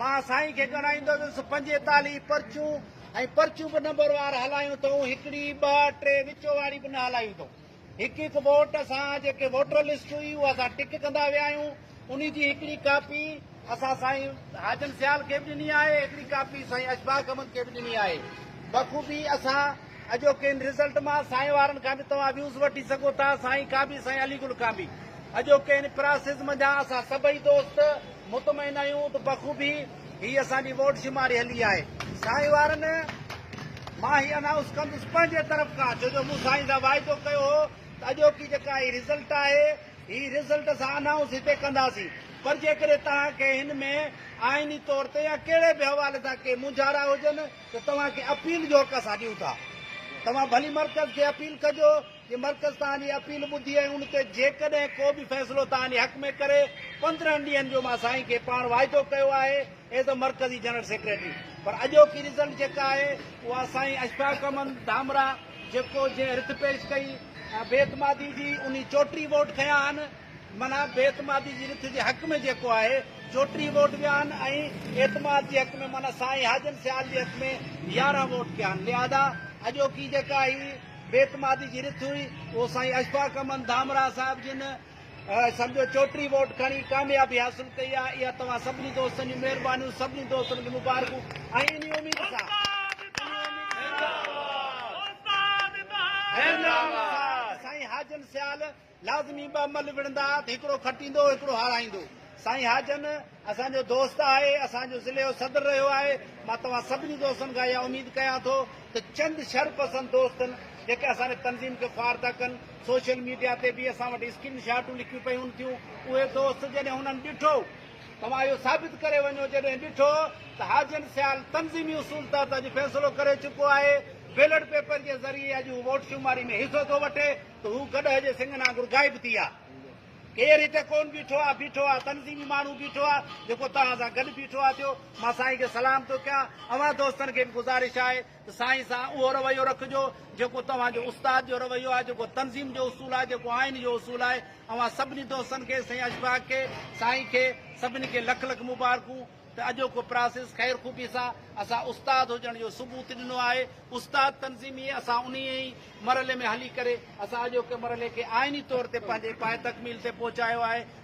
مان سائين کي ڳڻائيندس پنجيتاليهه پرچون ۽ پرچون به نمبروار هلايون اٿئون هڪڙي ٻه ٽي وچو واري به نه هلايون اٿئون هڪ هڪ ووٽ سان جيڪي ووٽر لسٽ هئي اها اسان ٽڪ ڪندا ويا آهيون انهي جي هڪڙي ڪاپي اسان سائين حاجن سيال کي به ڏني آهي هڪڙي ڪاپي سائين اشفاق احمد کي به ڏني آهي بخوبي اسان اڄوڪين رزلٽ مان سائين وارن کان به توهان ويوز وٺي سگهو ٿا سائين ڪانبي سائين علي گل ڪانبي اڄوڪين پراسز منجهان اسان سڀئي دوست مطمئن آهيون ته بخوبي هي اسان جي ووٽ شماري هلي آهي سائين وارن مان هي انائونس ڪندس پنهنجي طرف کان ڇو جو مون سائين سان واعدو ڪيو هو ته اڄوڪي جيڪا هي رزلٽ آهي هي رزلٽ اسان انائونس هتي ڪنداسين پر جيڪڏهن توهان کي هن ۾ آئيني طور تي يا ڪهڙي به حوالي سان ڪي مونجهارا هجن ته توهان کي اپيل جو حق اسان ڏيون ٿا توهان ڀلي مرڪز کي اپيل ڪجو جي مرڪز توهان جي اپيل ٻڌي ۽ ان تي جيڪڏهن ڪو به فيصلو توهان جي حق ۾ ڪري، پندرهن ڏينهن جو مان سائين کي پاڻ واعدو ڪيو آهي ايز اي مرڪزي جنرل سيڪريٽري پر اڄوڪي رزلٽ جيڪا آهي اها سائين اشفاق احمد ڌامراء جيڪو جنهن رٿ پيش ڪئي ۽ بي اعتمادي جي انهي چوٽيهه ووٽ کنيا آهن معنيٰ بي اعتمادي جي رٿ جي حق ۾ جيڪو آهي چوٽيهه ووٽ ويا آهن ۽ اعتماد جي حق ۾ معنيٰ سائين حاجن سيال جي حق ۾ يارهن ووٽ ڪيا آهن لهذا اڄوڪي جيڪا هي بي اعتمادي جي رٿ هئي اهو سائين اشفاق احمد ڌامراهه صاحب جن سمجهو چوٽيهه ووٽ کڻي ڪاميابي حاصل ڪئي آهي اها توهان سڀني دوستن جون مهربانيون سڀني دوستن کي مبارڪون ۽ انهي اميد سان سائين حاجن سيال لازمي ٻه ملھ وڙھندا ھا تھ ھڪڙو کٽيندو ھڪڙو ھارائيندو. سائين حاجن اسان جو دوست آھي، اسان جو ضلعي جو صدر رھيو آھي، مان توھان سڀني دوستن کان اھا اميد ڪيان ٿو تھ چند شھر پسند دوستن جيڪي اسان جي تنظيم کي خوار ٿا ڪن، سوشل ميڊيا تي بھ اسان وٽ اسڪرين شاٽون لڪيون پيھون ٿيون، اھي دوست جڏھن انھن ڏٺو، توھان اھو ثابت ڪري وڃو جڏھن ڏٺو تھ حاجن سيال تنظيمي اصول تحت اڄ فيصلو ڪري چڪو آھي، بيلٽ پيپر جي ذريعي اڄ ھو ووٽ شماري ۾ حصو ٿو وٺي. ته هو گڏهه جي سنگهن آنگر غائب ٿي ويا. ڪير هتي ڪون بيٺو آ، بيٺو آ، تنظيمي ماڻهو بيٺو آ، جيڪو توهان سان گڏ بيٺو آ ٿيو. مان سائين کي سلام ٿو ڪيان. اوهان دوستن کي به گذارش آهي ته سائين سان اهو رويو رکجو، جيڪو توهان جو استاد جو رويو آهي، جيڪو تنظيم جو اصول آهي، جيڪو آئين جو اصول آهي. اوهان سڀني دوستن کي، سائين اشفاق کي، سائين کي، سڀني کي لک لک مبارڪون. ته اڄوڪو پراسيس خير خوبي سان اسان استاد هجڻ جو ثبوت ڏنو آهي. استاد تنظيمي اسان انهيء ئي مرحلي ۾ هلي ڪري اسان اڄوڪي مرحلي کي آئيني طور تي پنهنجي پايتڪميل تي پهچايو آهي.